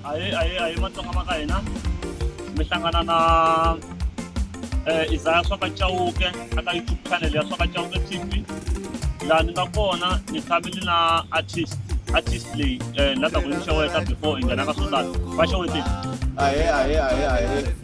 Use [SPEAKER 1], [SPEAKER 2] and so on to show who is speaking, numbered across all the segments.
[SPEAKER 1] Ay, ay, ay, man itong kamakain ha. May hlangana na eh, Isaya Soka Chauke, aka YouTube channel ya Soka Chauke TV. Laha ni nga kona ni tshamile na artist artist leyi eh, la ta ku yi xeweta before yi nghena ka swo tala va xewetile ahe ahe ahe
[SPEAKER 2] ahe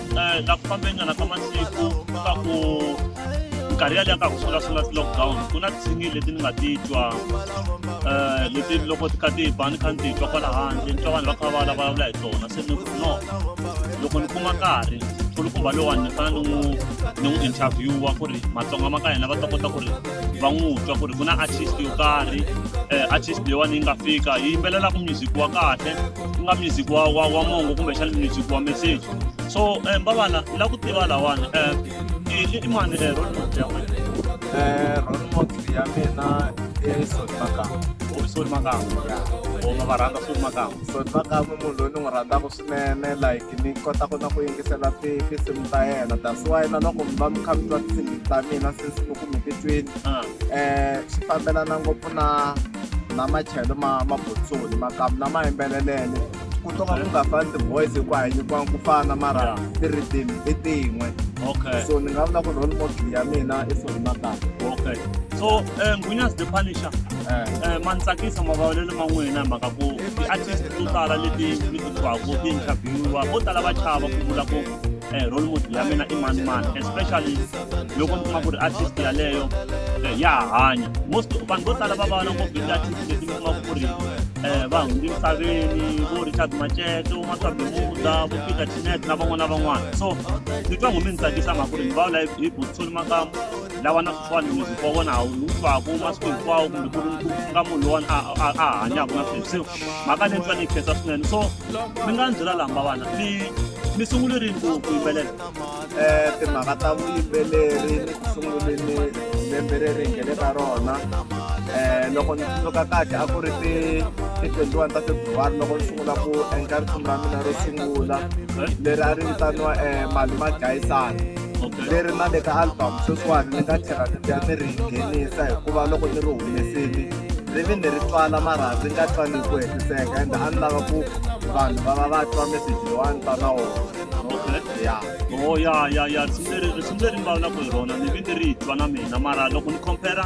[SPEAKER 1] um na ku fambeni nyana ka masiku ka ku minkarhi yaleyo ka ku sungula-sungula ti-lockdown ku na tsingi leti ni nga ti twa um leti loko ti kha ti ba ni kha ni ti twa kwala handle ni twa vanhu va kha va vulavula hi tona se ni ku no loko ni kuma nkarhi kulukumba lowani ni fanele ni n'wi ni n'wi interviewa ku ri matsonga ma ka hina va ta kota ku ri va n'wi twa ku ri ku na artist yo karhi um artist leyiwani yi nga fika yi yimbelelaka music wa kahle ku nga music wa wa wa mongo kumbexana music wa message so um mbavana ni la ku tiva lawani um i i mani um role model ya wena um role
[SPEAKER 2] model ya mina i soti makamba soti makamba
[SPEAKER 1] o ma va rhandza soti makamba soti makamba munhu
[SPEAKER 2] loyi ni n'wi rhandzaka swinene like ni kota ku na ku yingisela tinsimu ta yena that's why na loko mi va mi kha mi twa tinsimu ta mina since loko mi ti twini um swi fambelana ngopfu na na machelo ma ma botsoni makamu na ma yimbelelele ku to ka ku nga fani ti-voice hi ku a hi nyikiwanga ku fana mara ti-rhythm i tin'we okay so ni nga
[SPEAKER 1] vula ku role
[SPEAKER 2] model ya mina i sori makamu okay so
[SPEAKER 1] um ngwinyazi the punisher um ma ni tsakisa mavulavulelo ma n'wina hi mhaka ku ti-artist to tala leti mi ti twaka ti interviewiwa vo tala va chava ku vula ku eh, role model ya mina i mani mani especially loko mi kuma ku ri artist yaleyo eh, ya hanya most vanhu vo tala va va na ngopfu ti-artist leti mi kuma ku ri eh, va hundzi misaveni vo richard maceto maswabemuda vo peter tinet na van'wana na van'wana so ni twa ngo mi ni tsakisa mhaka ku ri ni va vula hi botsoni makamu lava na switshwani muziki wa vona hawu ni wu twaka masiku hinkwawo kumbe ku ri ku nga munhu lowani a a- a hanyaka na sweswi se mhaka leyi ni twa ni yi khensa swinene so mi nga ni byela lamba vana mi mi sungule rini ku ku yimbelela Eh, timhaka
[SPEAKER 2] ta vuyimbeleri ni ku sunguleni lembe leri hi ngene ka rona um loko ni tsundzuka kahle a ku ri ti ti 21 ta februwari loko ni sungula ku endla risimu ra mina ro sungula leri a ri vitaniwa um mali magayisana ni ri na le ka album sweswiwani ni nga tlhela ni ni ri nghenisa hikuva loko ni ri humesini ri vi ni ri twala mara ri nga twani ku hetiseka ende a ni lava ku vanhu va va va twa meseji lowa ni ta na wona ya o oh, ya
[SPEAKER 1] ya ya risimu leri risimu leri ni vulavulaka hi rona ni vi ni ri twa na mina mara loko ni compare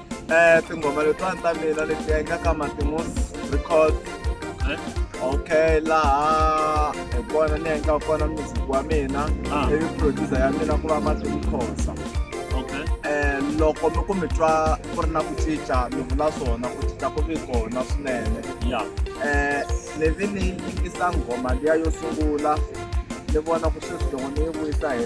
[SPEAKER 1] Eh, tinghoma
[SPEAKER 2] letiwani ta mina leti endlaka matimus record Eh? okay laha hi kona ni endla kona music wa mina Ah. ivi producer ya mina ku va matimukhosa okay um loko mi ku mi twa ku ri na ku cinca mi vula swona ku cinca ku vi kona swinene ya um ni vi ni yingisa nghoma liya yo sungula ni vona ku sweswi loko ni yi vuyisa hi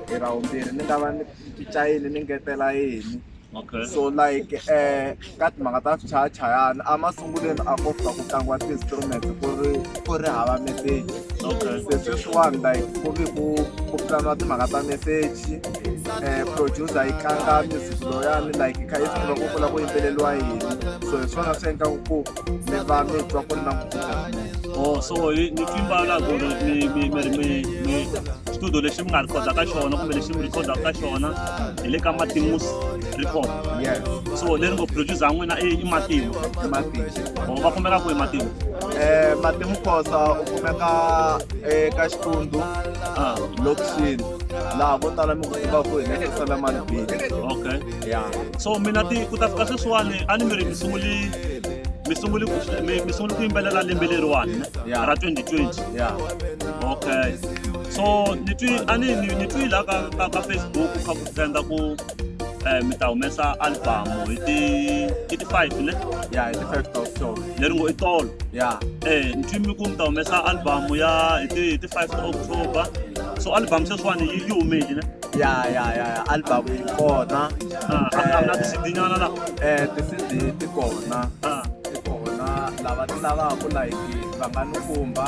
[SPEAKER 2] hi ra vumbirhi ni nga va ni cinca yini ni ngetela yini Okay. so like eh ka timhaka ta swichayachayana a masungulweni a ko fika ku tlangiwa ti-instrument ku ri ku ri hava meseji Okay. se sweswiwani like ku ve ku ku pulaniwa timhaka ta meseji um producer yi tlanga music loyani like yi kha yi swi tiva ku kula ku yimbeleliwa yini so hi swona swi endlaku ku Seba mi twa ko na Oh so ni timba
[SPEAKER 1] la go mi mi mi mi mi studio lexi mi nga recorda ka xona kumbe lexi mi recorda ka xona hi le ka Matimus record. Yes. So leri ngo producer n'wina i i Matimu. Matimu. Oh va kumeka ku i Matimu. Eh Matimu
[SPEAKER 2] Khosa u kumeka eka Xitundu. Ah, lokishini. Laha vo tala mi ku tiva ku hi le Selemani Beach. Okay. ya so mina
[SPEAKER 1] ti ku ta fika sweswiwani a ni mi ri mi sunguli mi sunguli mi mi sunguli ku yimbelela lembe leriwani ne? Yeah. ra 2020 ya okay so ni twi a ni ni ni twi la ka ka, ka facebook ku kha ku trenda ku eh mi ta humesa album hi ti hi ti 5 ne ya hi ti first of
[SPEAKER 2] show leri ngo i tolo
[SPEAKER 1] ya eh ni twi mi ku mi ta humesa album ya hi ti hi ti 5 october so album sweswiwani yi yi humeli ne ya ya ya ya
[SPEAKER 2] album yi kona Ah, a a wu na
[SPEAKER 1] tisidinyana la eh ti-cd ti
[SPEAKER 2] kona Ah, ti kona lava ti lavaka like va nga ni khumba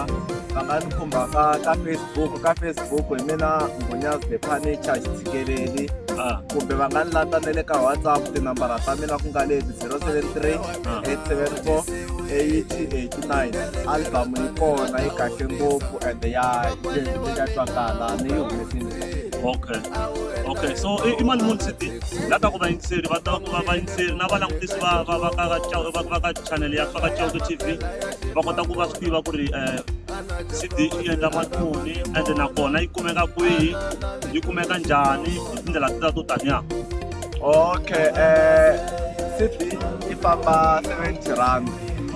[SPEAKER 2] va nga ni khumba ka ka facebook ka facebook hi mina mbhonyas the panicha xitsikeleli ah, kumbe va nga ni lata na le ka whatsapp tinambara ta mina ku nga leti 073 874 8889 album yi kona yi kahle ngopfu and ya ya twakala ni yi humesini okay
[SPEAKER 1] okay so i i mali muni sidi la ta ku vayingiseri va ta ku va vayingiseri na valangutisi va va va ka va va ka channel ya faka chauke tv va kota ku va swi tiva ku ri um cd yi endla mali muni and nakona yi kumeka kwihi yi kumeka njhani hi tindlela tita to taniya
[SPEAKER 2] okay um cd yi famba seventy rand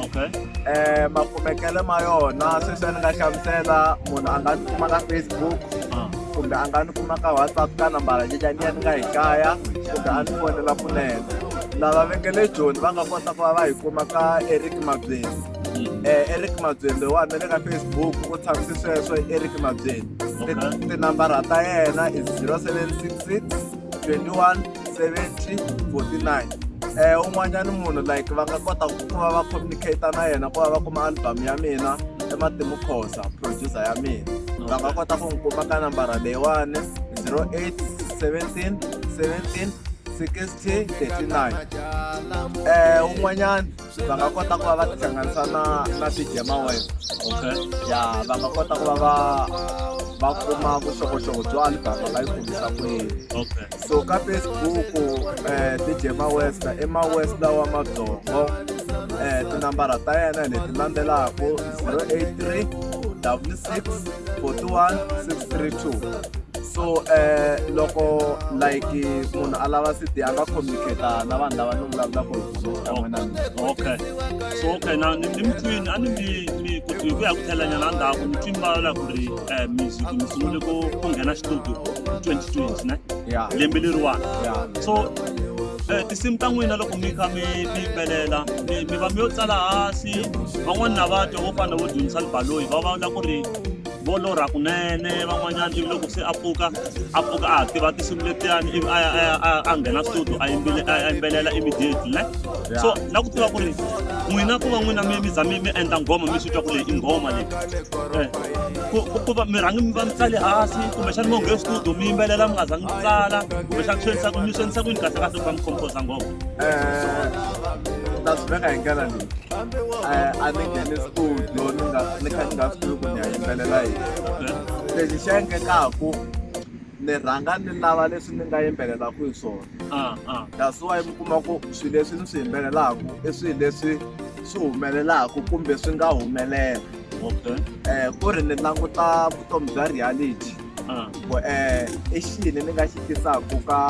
[SPEAKER 2] okay
[SPEAKER 1] eh makumekele
[SPEAKER 2] ma yona sweswi ni nga hlamusela munhu a nga ni kuma ka facebook ah. kumbe a nga ni kuma ka whatsapp ka nambara leyi ni ya ni nga yi kaya kumbe a ni fonela kunene lava vekele joni va nga kota ku va va yi kuma ka eric mabyeni mm. eh eric mabyeni loyiwani na le ka facebook u tshamisi sweswo eric mabyeni tinambara ta yena i zero seven six six twenty one 7049 eh un'wanyana munhu like va nga kota ku va va communicate na yena ku va va kuma album ya mina ematimu khosa producer ya mina va nga kota ku n'wi kuma ka nambara leyiwani 08 17 17 60 39 eh un'wanyana va nga kota ku va va tihlanganisa na na ti-jamaweb okay. ya va nga kota ku va va va kuma vuxokoxoko byo album va yi kumisa ku yini okay. so ka facebook um eh, ti-jema west i mawest lawa madzongo um tinambara ta yena hi leti landzelaka 083 w 6 41 632 so um loko like munhu a lava city a nga communicata na vanhu lava ni vulavulaka okay
[SPEAKER 1] so okay na ni mi twini a ni mi mi ku hi ku ya ku thelanyana ndhaku mi twini va la ku ri um music mi sungule ku ku nghena xitudio twenty twenty ne lembe leriwani so Eh, tinsimu ta n'wina loko mi kha mi mi yimbelela mi va mi yo tsala hansi van'wani na va twa vo fana vo dyondzisa libaloyi va va la ku ri vo lorha kunene van'wanyana ivi loko se a pfuka a pfuka a ha tiva tinsimu letiyani ivi a ya a ya a ya- a nghena studio a yimbile- a ya yimbelela immediately ne so na ku tiva ku ri n'wina ku va n'wina mi mi za mi mi endla nghoma mi swi twa ku leyi i nghoma leyi Eh, ku ku- ku va mi rhangi mi va mi tsale hansi kumbexani mo nghee studio mi yimbelela mi nga zangi mi tsala kumbexani swi endlisa ku mi swi endlisa ku yini kahle kahle ku va mi composa nghoma Eh,
[SPEAKER 2] ta swi veka hi ndlela leyi a ni nghene studio ni nga ni kha ni nga swi tivi ku ni ya yimbelela yini lexi xi endlekaku ni rhanga ni lava leswi ni nga yimbelelaku hi swona Ah, ah. that's why mi kuma ku swilo leswi ni swi yimbelelaku i swilo leswi swi humelelaku kumbe swi nga humelela okay eh ku ri ni languta vutomi bya reality ah. ku eh i xini ni nga xi tisaka ka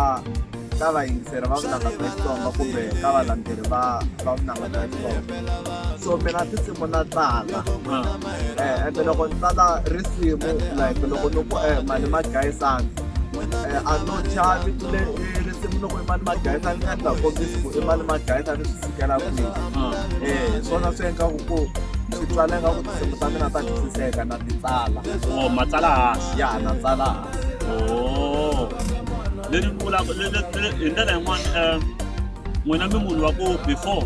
[SPEAKER 2] ka vayingiseri va vunanga bya xitsonga kumbe ka valandzeri va va vunanga bya xitsonga so mina tinsimu na tsala ah. ende eh, loko ni tsala risimu like loko ni ku eh mali ma gayisana eh, a no chavi le eh, risimu loko i mali ma gayisana ni endla kombisi ku i mali ma gayisana kela kwihi um swona swi endlaku ku swi tsala nga ku tinsimu ta mina ta twisiseka na ti tsala o matsala hansi ya na
[SPEAKER 1] tsala hansi o leni vulaka hi ndlela yin'wana um n'wina mi munhu wa ku before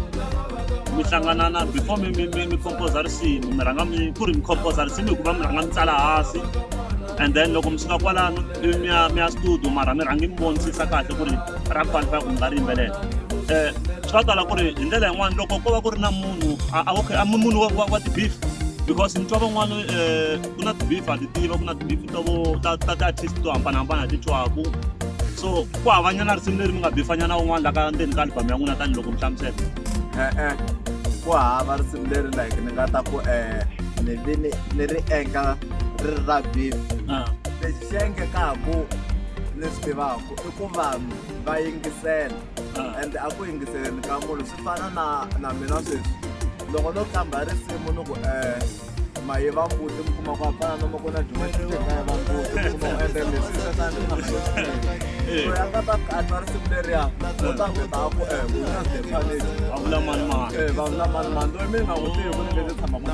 [SPEAKER 1] mi hlangana na before mi mi mi composa risimu mi rhanga mi ku ri mi composa risimu hikuva mi rhanga mi tsala hansi and then loko mi suka kwalano mi ya mi ya studio mara mi rhangi mi vonisisa kahle ku ri ra qualify ku mi nga ri yimbelela um swa tala ku ri hi ndlela yin'wana loko ko va ku ri na munhu okay a munhu wa ti-beef because ni twa van'wana um ku na ti-beef a ti tiva ku na ti-beef ta vo ta ta ti-artist to hambanahambana ti twaku so ku havanyana risimu leri mi nga bifanyana un'wana la ka ndzeni ka albhamu ya n'wina tanihiloko mi hlamusela e-e ku
[SPEAKER 2] hava risimu leri like ni nga ta ku um ni vi ni ni ri endla ri ri ra beef ah. lexi xi endlekaku ni swi tivaku i ku vanhu va yingisela ah. and a ku yingiseleni ka munhu swi fana na na mina sweswi loko no hlamba risimu ni ku eh maye va mbuti mi kuma ku hambana no makona dyumaxikaya va mbuti mi kuma ku endla leswi swesanianga ta katwa risimu leriya u ta ku ta ku eh wina zefanile va vula mani mani eh,
[SPEAKER 1] va
[SPEAKER 2] vula mani mani
[SPEAKER 1] loyi
[SPEAKER 2] mi nga n'wi tivi ku ni leti tshamaka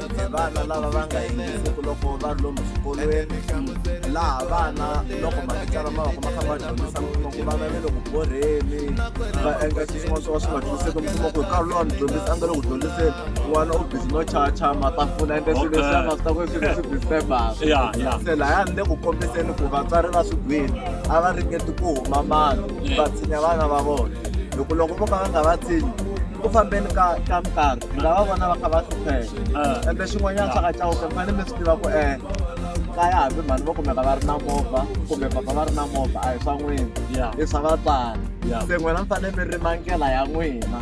[SPEAKER 2] kumbe vana lava va nga yingisiku loko va ri lomu swikolweni laha vana loko matitsala ma va ku ma kha ma dyondzisa mfumo ku vana ve le ku borheni va endla xin'wana swo ka swi nga dyondziseki mfumo ku hi nkarhi lowa mi dyondzisa a nga le ku dyondziseni n'wana u bizi no chacha matafula ende swilo leswi a nga swi ta ku swilo swi disturbaku ya ya se laya ni le ku kombiseni ku vatswari va swigwini a va ringeti ku huma mali va tshinya vana va vona loko loko vo ka va nga va tshinyi ku fambeni ka ka nkarhi mi nga va vona va kha va hlupheka ah. ende xin'wanyana xa ka cawuke mi fanele mi swi tiva ku e kaya hambi mhani vo kumeka va ri na movha kumbe papa va ri na movha a hi swa n'wina i swa vatswari se n'wina mi fanele mi rima ndlela ya n'wina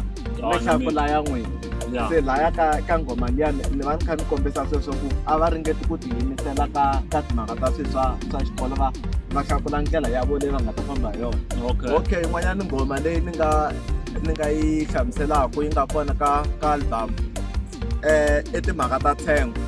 [SPEAKER 2] mi hlakula ya n'wina se laya ka ka nghoma liya ni va ni kha ni kombisa sweswo ku a va ringeti ku tiyimisela ka ka timhaka ta swi swa swa xikolo va va hlakula ndlela ya vo leyi va nga ta famba hi yona okay yin'wanyana nghoma leyi ni nga ni nga yi hlamuselaka yi nga kona ka ka album eh i timhaka ta thengo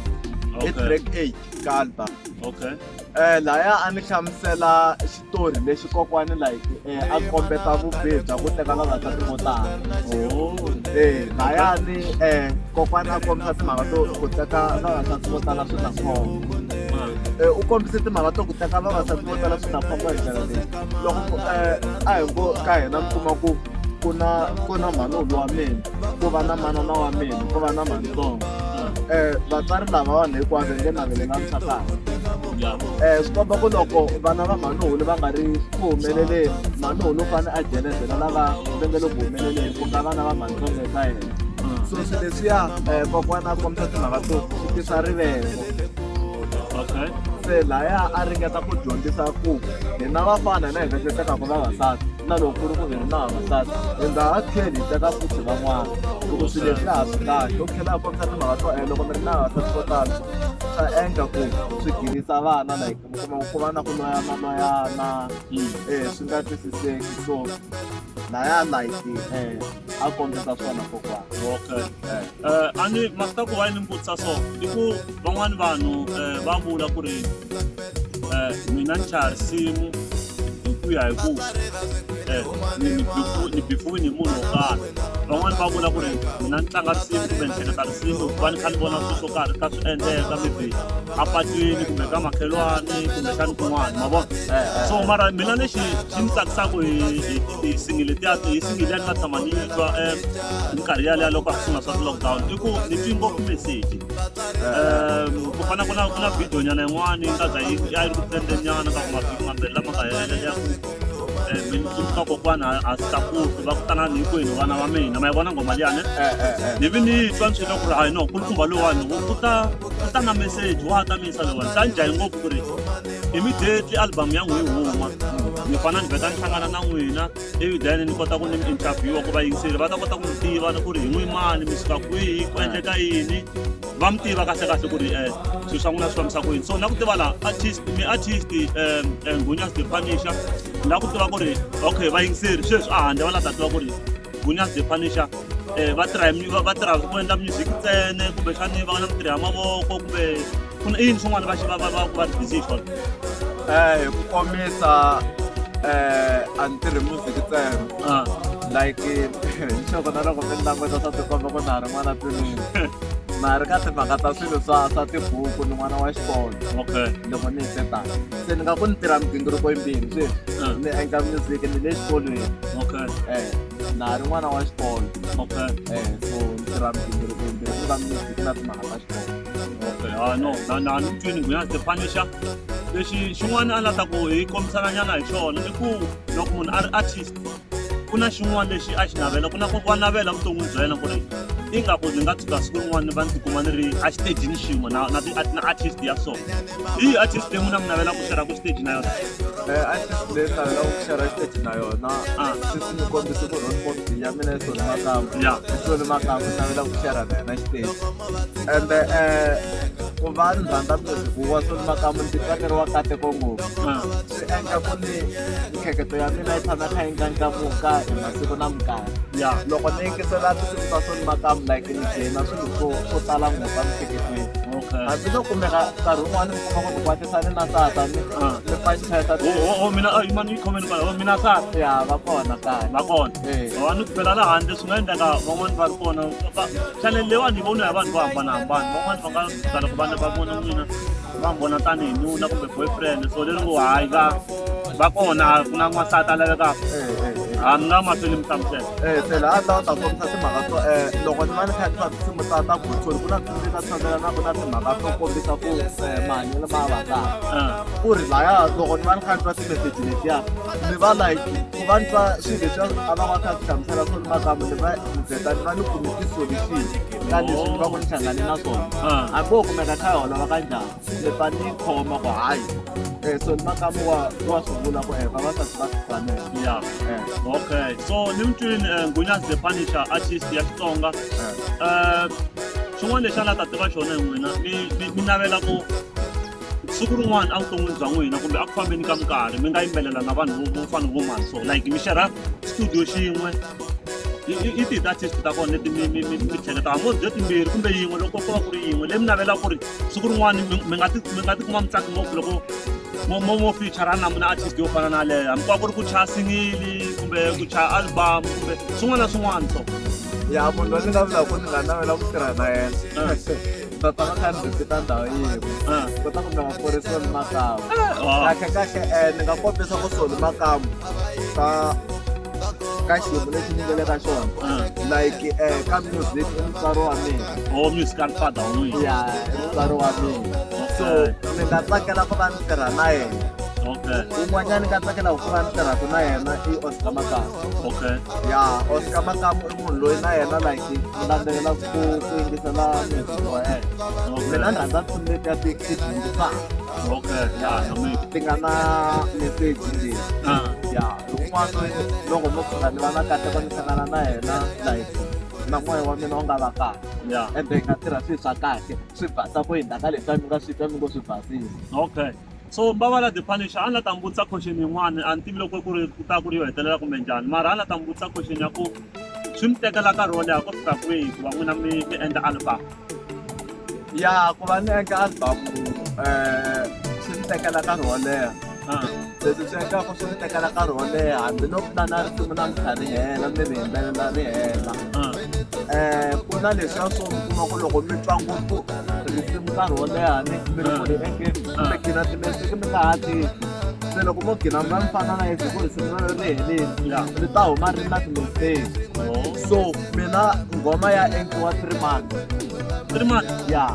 [SPEAKER 2] i track 8 ka album okay eh laya a ni hlamusela xitori lexi kokwani like eh, a kombeta vubihi bya ku teka vavasati vo tala oh. eh laya ni eh kokwani a kombisa timhaka to ku teka vavasati vo tala swi na khombo ah. eh, u kombise timhaka to ku teka vavasati vo tala swi na khombo hi ndlela leyi loko eh, a hi ngo ka hina mi kuma ku ku na ku na mhanulu wa mina ku va na manana wa mina ku va na mantsongo um vatswari lava vanhu hinkwavo nge navele na nsatana um swi komba ku loko vana va mhanulu va nga ri ku humeleleni mhanulu u fanele a jelezela lava va nge le ku humeleleni ku nga vana va mantsongo eka yena so swi leswiya um kokwana a kombisa timhaka to swi tisa rivele se laya a ringeta ku dyondzisa ku hina vafana hina hi nga xo teka ku vavasati na loko ku ri ku hi ri na vavasati hi nga ha tlheli hi teka futhi van'wana loko swilo leswi laha swi kahle u tlhela a kombisa timhaka to e loko mi ri na vavasati vo tala swa endla ku swi girisa vana like mi kuma ku va na ku loyana loyana um swi nga twisiseki so laya like um a kombisa swona kokwana okay a
[SPEAKER 1] ni ma swi ta ku va ni mi vutisa so i ku van'wani vanhu um va vula ku ri um mina ni chaya risimu hi ku ya hi ku um ni bifiwini hi munhu wo karhi van'wani va vula ku ri mina ni tlanga risimu kumbe ni hleketa risimu hikuva ni kha ni vona swilo swo karhi ka swi endleka maybe apatwini kumbe ka makhelwani kumbe xani kun'wana ma vona so mara mina lexi xi ni tsakisaka hi hi singile tiya hi singile ya ni nga tshama ni yi twa um minkarhi yaleya loko a sungula swa ti-lockdown i ku ni twi ngopfu meseji um ku fana ku na ku na video nyana yin'wani yi nga za yi ya yi ri ku trenden nyana ka ku mavhiki mambirhi lama nga helela ya ku um mi ni tsundzuka kokwana a si tlakuki va ku tanani hinkwenu vana va mina ma yi vona ngoma liyani ni vi ni twa ni swilo ku ri hayi no kulukumba lowani u u ta u ta na meseji wa ta miyisa lowani ta ni jahi ngopfu ku ri immediately album ya n'wi yi huma ni fana ni vheta ni hlangana na n'wina ivi then ni kota ku ni mi interviewa ku va yingiseli va ta kota ku mi tiva ni ku ri hi n'wi mani mi suka kwihi ku endleka yini va mi tiva kahle kahle ku ri um swilo swa n'wina swi fambisa ku yini so na ku tiva la artist mi artist um um gunyas depanisha na ku tiva ku ri okay vayingiseri sweswi a handle va la ta tiva ku ri gunyas depanisha um va tirha hi va tirha ku endla music ntsene kumbexani va nga na mitirhi ya mavoko kumbe ku na i yini swin'wana va va va va ri busy hi swona um hi
[SPEAKER 2] ku komisa um a ni tirhi music ntsena like nxoko na loko mi ni languta swa tikomba ku na ha ri n'wana twinini na ha ri ka timhaka ta swilo swa swa tibuku ni n'wana wa xikolo okay loko ni hi setaka se ni nga ku ni tirha migingiriko yimbirhi sweswi ni endla music ni le xikolweni okay um na ha ri n'wana wa xikolo okay eh so ndzi ra bindzu ri kumbe ndzi ra music ku na timhaka ta xikolo okay ha no na na ni
[SPEAKER 1] twini ngwenya the punisher lexi xin'wana a la ta ku hi kombisana nyana hi xona i ku loko munhu a ri artist ku na xin'wana lexi a xi navela ku na ku wa navela vuton'wini bya yena ku ri ingaku ndzi nga tshuka siku rin'wana ni va ni tikuma ni ri exitejini xin'we na na na artist ya so hi artist leyi n'wina mi navelaka ku xera ku xiteji na yona artist
[SPEAKER 2] leyi tala ya ku share stage na yona Ah. sisi ni kombisa ku role model ya mina yi soni makamba Ya. yi soni makamba ni navela ku share na yena stage and eh ku va ni rhandza music wa soni makamba ndzi tsakeriwa kateko ngopfu Ah. swi endla ku ni miehleketo ya mina yi tshama kha yi ndlandlamuka hi masiku na minkarhi ya loko ni yingisela tinsimu ta soni makamu like ni dyena swilo swo swo tala ngopfu emihleketweni okay hambiloko kumeka nkarhi wun'wana mi kuma ku ni kwate sa ni na tata ni Ah. ni panceta o o- o mina a yi mani
[SPEAKER 1] yi khomeni kwala o mina ka ya va kona kaya
[SPEAKER 2] va kona Eh. va
[SPEAKER 1] ni phela la handle swi nga endleka van'wani va ri kona Va- chanele leyiwani yi voniwa hi vanhu vo hambanahambana van'wani va nga tala ku vana va vona n'wina va mi vona tanihi nuna kumbe boyfriend so leri ngo hayi ka va kona ku na n'wansati a lavekaka a ni nga mahlweni mi hlamusela eh phela a lawa ta
[SPEAKER 2] kombisa timhaka to eh loko ni va ni kha ni va tinsimu ta ta gotsholi ku na tinsimu ta tshamela na ku na timhaka to kombisa ku eh, mahanyelo ma vataka Ah. ku ri laya loko ni va ni kha ni twa timeseji letiya ni va like ku va ni twa swilo leswi a va va kha swi hlamusela swo ni makamu ni va ni vheta ni va ni kume tisolution ka leswi ni va ku ni hlangane na swona Ah. hambi wo kumeka kha hi holova ka njhani se ta ni khoma ku hayi eh so ni makamu wa wa swi vula ku eh vavasati va swi fanela ya eh okay
[SPEAKER 1] so ni mutwini eh, ngunya the punisher artist ya xitsonga eh eh xin'wana lexi a nga ta tiva xona hi n'wina mi mi- mi navela ku siku rin'wana evuton'wini bya n'wina kumbe a ku fambeni ka minkarhi mi nga yimbelela na vanhu vo- vo fana vo mani so like mi xerha studio xin'we i- i- i ti-artist ta kona leti mi mi- mi mi hleketaka mo byo timbirhi kumbe yin'we loko ko va ku ri yin'we leyi mi navela ku ri siku rin'wana mi nga ti mi nga ti kuma mi tsaka ngopfu loko mo mo mo feature na mina artist yo fana na leyo hambi kwa ku ri ku chaya singili kumbe ku chaya album kumbe swin'wana na swin'wana so ya munhu loyi
[SPEAKER 2] ni nga vulaka ni nga navela ku tirha na yena ta ta va kha ni visita ndhawu yin'we kota ku nga va korisa ni makamu kahle kahle um ni nga kombisa ku soli makamu ta ka xiyimo lexi ni nga le ka xona like eh, ka music i mutswari wa mina or musical father
[SPEAKER 1] wa n'wina ya i mutswari
[SPEAKER 2] wa mina so ni nga tsakela ku va ni tirha na yena okay un'wanyana ni nga tsakela ku va ni tirhaka na yena i oscar makamu okay ya oscar makamu i munhu loyi na yena like ni landzelela ku ku yingisela music wa yena mina ni rhandza tinsimu letiya ti ti dyondzisaka okay ya na mina ti nga na meseji leyi ah ya un'wana loyi loko mo tshuka ni va na kateko ni hlangana na yena like na moya wa mina wu nga va kahle Yeah. ende hi nga tirha swilo swa kahle swi basa ku hindza ka leswi a mi nga swi twa mi ngo swi basile okay so mbavala
[SPEAKER 1] the punisher a ni la ta mi vutisa question yin'wana a ni tivi loko ku ri ku ta ku ri yo hetelela kumbe njhani mara a ni la ta mi vutisa question ya ku swi mi tekela nkarhi wo leha ku fika kwihi ku va n'wina mi mi endla album
[SPEAKER 2] ya ku va ni eka album um swi ni tekela nkarhi wo leha ah. leswi swi endlaka swi ni tekela nkarhi wo leha hambiloko na na ri sungula ni kha ri hela ni ri yimbelela ri hela um ku na leswiya swo mi kuma ku loko mi twa ngopfu risimu nkarhi wo leha ni mi ri ku ri engeni mi gina timesiki mi nga ha tivi se loko mo gina mi va mi fana na yese ku risimu ri heleli ni ta huma ri na timeseki so mina ngoma ya endliwa three months three months ya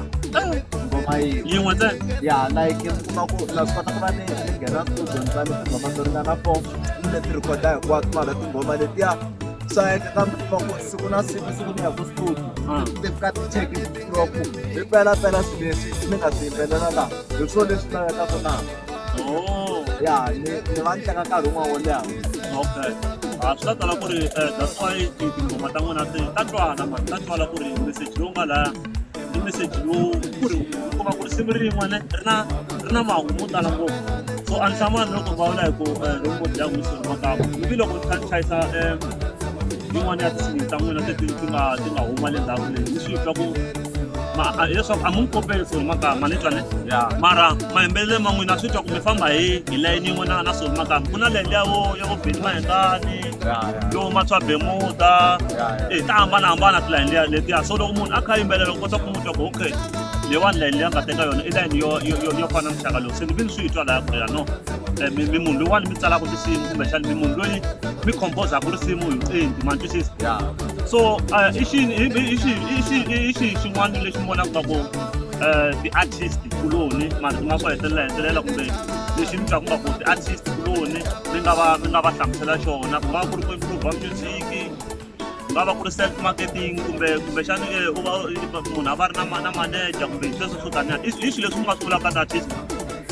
[SPEAKER 2] ngoma yi yin'we ntsena
[SPEAKER 1] ya like mi
[SPEAKER 2] kuma ku na swi kota ku va ni ni nghena studio ni tsale tinghoma to ringana four ni le ti rhikhoda hinkwato mara tinghoma letiya swa endleka mi kuma ku siku na siku siku ni ya ku studio ah. ti fika ti cheki loko hi pelaphela swileswi mi nga swi yimbelela laha hi swona leswi lavekaka na Oh, ya ni ni va ni teka nkarhi wun'wana wo leha okay.
[SPEAKER 1] Ah, swi ta tala ku ri eh, that's why ti- tinghoma ta n'wina ti ta twala mani ta twala ku ri message lowu nga laya i message lowu ku ri u kuma ku ri simu rin'we ne ri na ri na mahungu mo tala ngopfu so a ni hlamani loko vulavula hi ku eh, loko ngo dya n'wisi ri makama ivi loko ni kha ni chayisa em, yin'wana ya tinsimu ta n'wina leti ti nga ti nga huma le ndzhaku leyi ni swi twa ku ma hileswaku a mu n'wi kopeli for maka ma ni twane mara mayimbelele ma n'wina swi twa kumbe famba hi hi layini yin'we na na solo maka ku na layini yavo ya vo beni mahengani yo matshwa bemuta e ta hambanahambana tilayini liya letiya so loko munhu a kha yimbelela u kota ku n'wi twa ku okay leyiwani layini leyi a nga teka yona i layini yo yo- yo- yo fana muxaka lowu se ni vi ni swi yi twa laya ku ri ya no Eh, mi mi munhu loyiwani mi tsalaka tinsimu kumbexani mi munhu loyi mi combozaka risimu hi vuenti ma ni twisisa so uh, i xi i i xi i xi i xi xin'wana lexi ni vonaka swa ku uh, ti-artist kuloni marito ma swa hetelela hetelela kumbe lexi ni twaku nga ku ti-artist kuloni mi nga va mi nga va hlamusela xona ku nga va ku ri ku improva music ku nga va ku ri self marketing kumbe kumbexani eh, u va munhu a va ri na ma- na manager kumbe sweswo swo taniya i swi- i swilo leswi mi nga swi vulaka ka ti-artist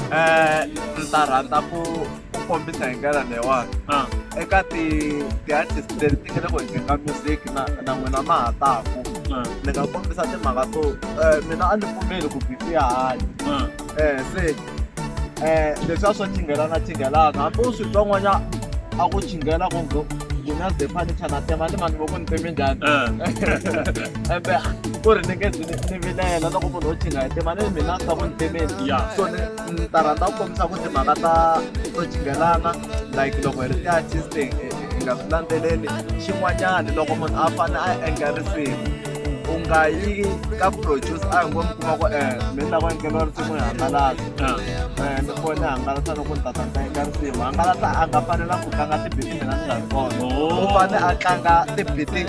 [SPEAKER 1] um
[SPEAKER 2] ndzi ta rhandza ku ku kombisa hi ndlela leyiwani Ah. eka ti ti-artist leti ti nga le ku endleni ka music na na n'wina ma ha taku Ah. ni nga kombisa timhaka to eh, mina a ni pfumeli ku bifi ya hanya Ah. eh se eh leswi a swo chingelana chingelana hambi u swi twa n'wanya a ku chingela ku ngo mina ze fanicha na tema ni vanhu voku ni teme njhani Ah. embe ku ri ni nge zi ni ni vilela loko munhu wo chinga hi tema ni mina ni ta ku ni temeni Yeah. so ni ni ta rhandza ku kombisa ku timhaka ta to jingelana like loko hi ri ti-artisting hi nga swi landzeleli xin'wanyana loko munhu a fane a endla risimu u nga yi ka produce a hi ngo mi kuma ku um mi ni lava endleriwa risimu hi hangalasa um ni fone hangalasa loko ni tata ni ta endla risimu hangalasa a nga fanela ku tlanga tibiti mina ni nga ri kona u fane a tlanga tibiti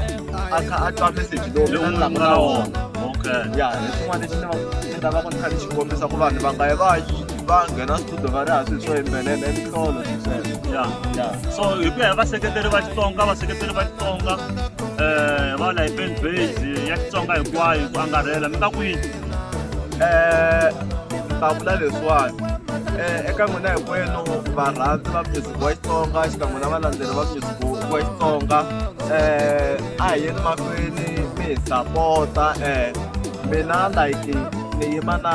[SPEAKER 2] a kha a twa message lowu mina ni lava na wona ya hi swin'wana lexi ni va lava ku tlhela xi kombisa ku vanhu va nga yi va yi va nghena studio va ri ha swi swo yimbelela i mihlolo swi sweswo ya ya so hi ku ya hi
[SPEAKER 1] vaseketeri va xitsonga vaseketeri va xitsonga um va la hi fan base ya xitsonga hinkwayo ku angarhela mi nga ku yini
[SPEAKER 2] um ta vula leswiwani um eka n'wina hinkwenu varhandzi va music wa xitsonga xikan'we na valandzeri va music wa xitsonga um a hi yeni mahlweni mi hi sapota um mina like ni yima na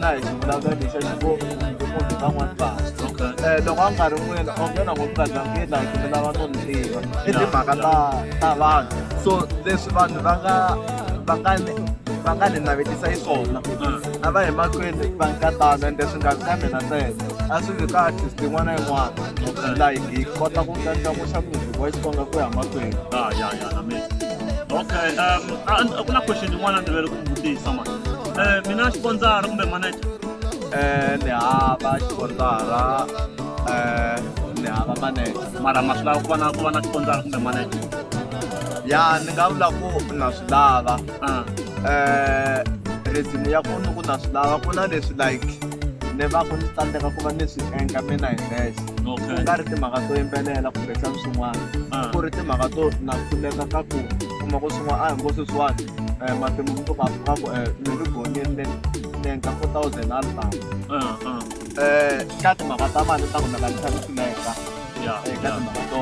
[SPEAKER 2] na hi xivulavula lexa xivomu kumbe munhu van'wani vanhu um loko a nga ri n'wina u nghena ngo kazangi like mi lava no ni tiva i timhaka ta ta vanhu so leswi vanhu va nga va nga ni va nga ni navetisa yi swona a va hi mahlweni va nga tano ende swi nga vi ka mina ntsena a swi vi ka artist yin'wana na yin'wana like hi kota ku ndlandlamuxa music wa xitsonga ku ya mahlweni
[SPEAKER 1] okay um and kuna question yin'wana ni vele ku mi vutisa ma eh mina xiponsara kumbe manager Eh, ni
[SPEAKER 2] hava xiponsara eh, ni hava manager mara ma swi lava ku va na
[SPEAKER 1] ku va na xiponsara kumbe manager ya
[SPEAKER 2] ni nga vula ku na swi lava um reason ya ku ni ku na swi lava ku na leswi like ni va ku ni tsandzeka ku va ni swi endla mina hi nexe ku okay nga ri timhaka to yimbelela kumbe xana swin'wana Ah. ku ri timhaka to na pfuneka ka ku kuma ku swin'wana a hi ngo sweswiwani um matimu mi to ka ka ku um mi ri gonini ni ni endla four thousand a litamu Ah, ah. um ka timhaka ta mali ta ku na ka ni tshami swi leka ya eka ya timhaka to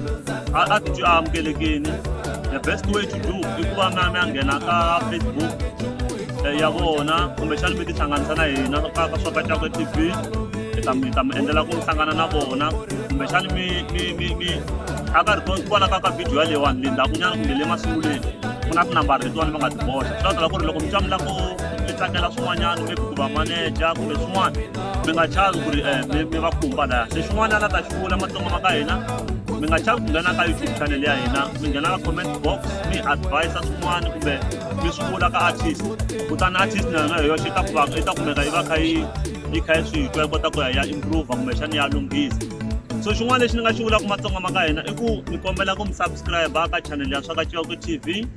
[SPEAKER 1] a a titwi a amukelekini the best way to do i ku va mi mi a nghena ka facebook eh, ya vona kumbexani mi tihlanganisa na hina ka ka swa ka cakwe t v hi ta mi hi ta mi endlela ku hlangana na vona kumbexani mi mi mi mi a ka ri kona kwala ka ka video yaleyiwani le ndhakunyana kumbe le masunguleni ku na tinambara letiwani va nga ti boxa swi ta tala ku ri loko mi twa mi lava ku mi tsakela swin'wanyana maybe ku va maneja kumbe swin'wana mi nga chavi ku ri eh, mi va khumba laya se xin'wana la ta xi vula matsongo ma ka hina mi nga chavi ku nghena ka youtube channel ya hina mi nghena ka comment box mi advisa swin'wana kumbe mi swi vula ka artist kutani artist na yona hi yoxe ta kuvaka i ta kumeka yi va kha yi yi kha yi swi twa yi kota ku ya ya improve kumbexani ya lunghisa so xin'wana lexi ni nga xi vulaka matsongo ma ka hina i ku mi kombela ku mi subscribe ka channel ya swaka ciwako tv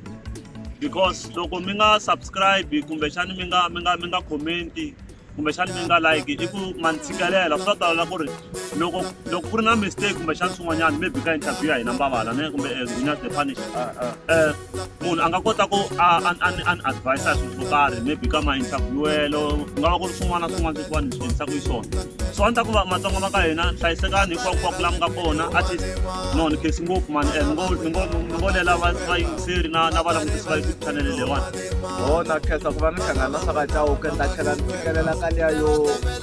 [SPEAKER 1] because loko mi nga subscribe kumbexani mi nga mi nga mi nga commenti kumbexana mi nga like i ku ma ni tshikelela swi ta talela ku ri loko loko ku ri na mistake kumbexana swin'wanyana maybe ka interview ya hina mbavala ne kumbe zinya the punish um munhu a nga kota ku an advise a swilo swo karhi maybe ka ma-interviewelo ku nga va ku ri swin'wana na swin'wana sweswiwani hi swi endlisaka hi swona so a ni ta ku va matsonga va ka hina hlayisekani hinkwaku kwaku lama nga kona at least no ni khesi ngopfu mani um ni ngo ni ngo ni ngo lela va va yingiseri na na va langutisi va youtube chanele leyiwani bona khetha
[SPEAKER 2] ku va ni hlangana swa ka cawuke ni ta tlhela ni fikelela ka liya yo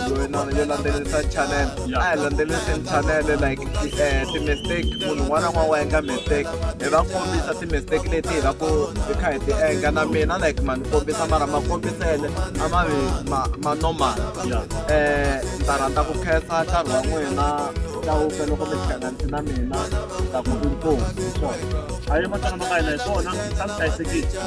[SPEAKER 2] yoyina yo landzelerisa channel a hi landzeleriseni channel like eh, ti-mistake munhu un'wana na un'wana wa endla mistake hi va kombisa ti-mistake leti hi va ku hi kha hi ti endla na mina like ma ni kombisa mara ma kombisele a ma vi ma normal um eh, ni ta rhandza ku khetha nkarhi wa n'wina hlawuka loko mi hlanganise na mina ta ku inkosi hi swona a yi matsana ma ka
[SPEAKER 1] hina hi swona a swi hlayisekile